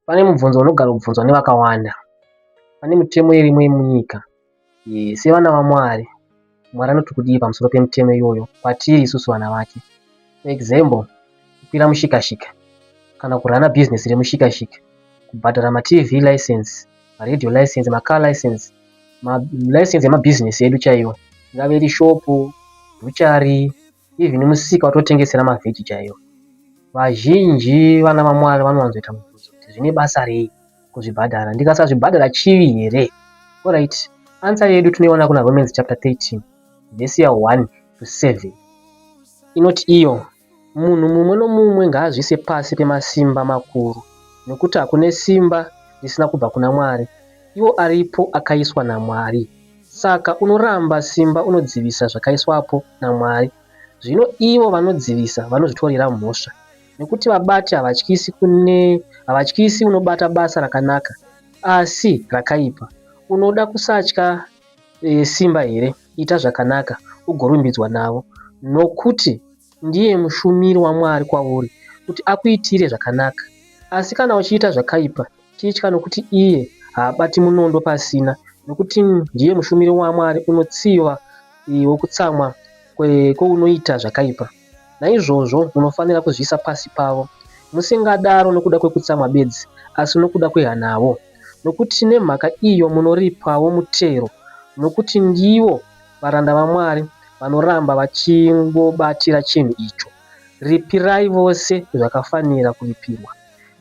Pane mubvunzo unogara kubvunzwa nevakawanda. Pane mitemo irimo yemunyika. E, sevana vaMwari, Mwari anoti kudii pamusoro pemitemo iyoyo kwatiri isusu vana vake? For example, kukwira mushikashika kana kurana bhizinesi remushikashika, kubhadhara maTV license, maradio license, macar license, malicense emabhizinesi edu chaiwo, ingave iri shopu, bhuchari, Even musika watotengesera mavheji chaiwo. Vazhinji vana vaMwari vanowanzoita mubvunzo kuti zvine basa rei kuzvibhadhara? Ndikasazvibhadhara chivi here? Alright, answer yedu tinoiona kuna Romans chapter 13 verse ya 1 to 7 inoti iyo munhu mumwe nomumwe ngaazvise pasi pemasimba makuru nokuti hakune simba risina kubva kuna Mwari, iwo aripo akaiswa naMwari. Saka unoramba simba unodzivisa zvakaiswapo naMwari. Zvino ivo vanodzivisa vanozvitorera mhosva, nekuti vabati havatyisi kune havatyisi unobata basa rakanaka asi rakaipa. Unoda kusatya e, simba here? Ita zvakanaka ugorumbidzwa navo, nokuti ndiye mushumiri waMwari kwauri, kuti akuitire zvakanaka. Asi kana uchiita zvakaipa, Tichitya nokuti iye haabati munondo pasina, nokuti ndiye mushumiri waMwari unotsiva wokutsamwa kwounoita zvakaipa. Naizvozvo munofanira kuzviisa pasi pavo, musingadaro nokuda kwokutsamwa bedzi, asi nokuda kwehanavo, nokuti nemhaka iyo munoripawo mutero, nokuti ndivo varanda vaMwari vanoramba vachingobatira chinhu icho. Ripirai vose zvakafanira kuripirwa.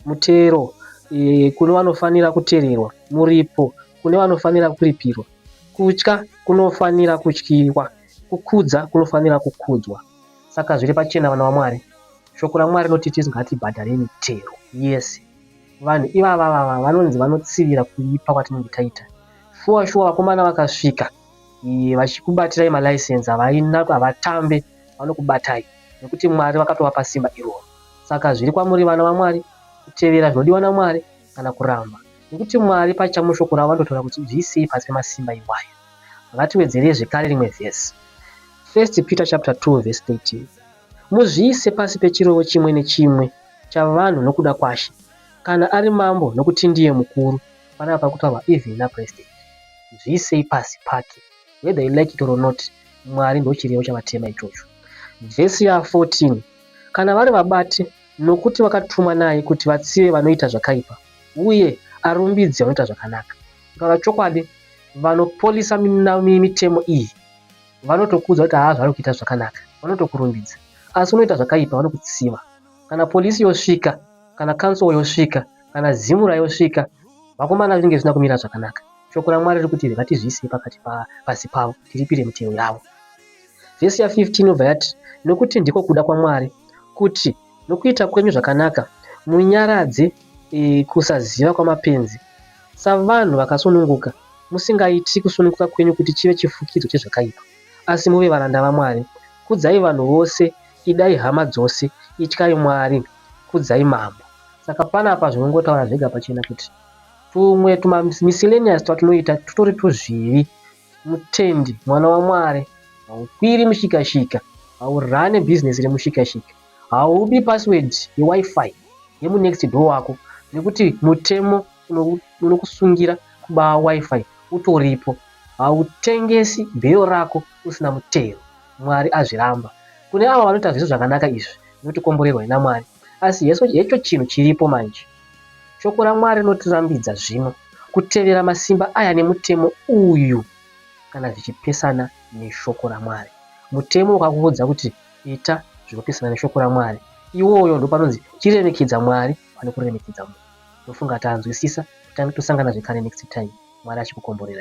mutero e, kune vanofanira kutererwa, muripo kune vanofanira kuripirwa, kutya kunofanira kutyirwa, kukudza kunofanira kukudzwa. Saka zviri pachena, vana vaMwari, shoko raMwari rinoti tisu ngatibhadhare mitero yese. Vanhu ivava vava vanonzi vanotsivira kuipa kwatinenge taita. Shuwa shuwa, vakomana vakasvika e, vachikubatirai malaisensi havatambe, vanokubatai nekuti Mwari vakatovapa simba iroro. Saka zviri kwamuri vana vaMwari kutevera zvinodiwa naMwari kana kuramba, nekuti Mwari pacha mushoko ravo vanototaura kuti bvisei pasi pemasimba iwayo. Ngatiwedzerei zvekare rimwe vhesi. First Peter chapter 2 verse 13. Muzviise pasi pechirevo chimwe nechimwe chavanhu nokuda kwaShe, kana ari mambo nokuti ndiye mukuru, panapa pari kutaurwa even napresident. Bvisei pasi pake. Whether you like it or not, Mwari ndochirevo chavatema ichocho. Vhesi ya 14. kana vari vabati, nokuti vakatumwa naye kuti vatsive vanoita zvakaipa, uye arumbidze vanoita zvakanaka. Kutaura chokwadi, vanopolisa mitemo iyi vanotokuudza kuti haa zvavari kuita zvakanaka, vanotokurumbidza, asi unoita zvakaipa vanokutsiva. Kana polisi yosvika, kana council yosvika, kana zimura yosvika, vakomana zvinenge zvisina kumira zvakanaka. Shoko raMwari riri kuti ngatizviisei pakati pasi pavo, tiripire mitero yavo. Vhesi ya15 inobva yati, Nokuti ndiko kuda kwaMwari, kuti nokuita kwenyu zvakanaka munyaradze e, kusaziva kwamapenzi, savanhu vakasununguka, musingaiti kusununguka kwenyu kuti chive chifukidzo chezvakaipa, asi muve varanda vaMwari. Kudzai vanhu vose, idai hama dzose, ityai Mwari, kudzai mambo. Saka panapa zvinongotaura zvega pachena kuti tumwe tumamiscellaneous twatinoita tutori twuzvivi. Mutendi, mwana waMwari, haukwiri mushikashika, haurane business remushikashika, haubi password yeWiFi yemunext door wako nekuti mutemo unokusungira kuba WiFi utoripo, hautengesi bail rako usina mutero, Mwari azviramba. Kune avo vanoita zviso zvakanaka izvi, zvinotikomborerwai naMwari. Asi hecho chinhu chiripo manje. Shoko raMwari rinotirambidza zvino kutevera masimba aya nemutemo uyu kana zvichipesana neshoko raMwari. Mutemo wakakuudza kuti ita zvinopesana neshoko raMwari. Iwoyo ndopanonzi chiremekedza Mwari pane kuremekedza munhu. Ndofunga tanzwisisa, titange tosangana zvekare next time. Mwari achikukomborerai.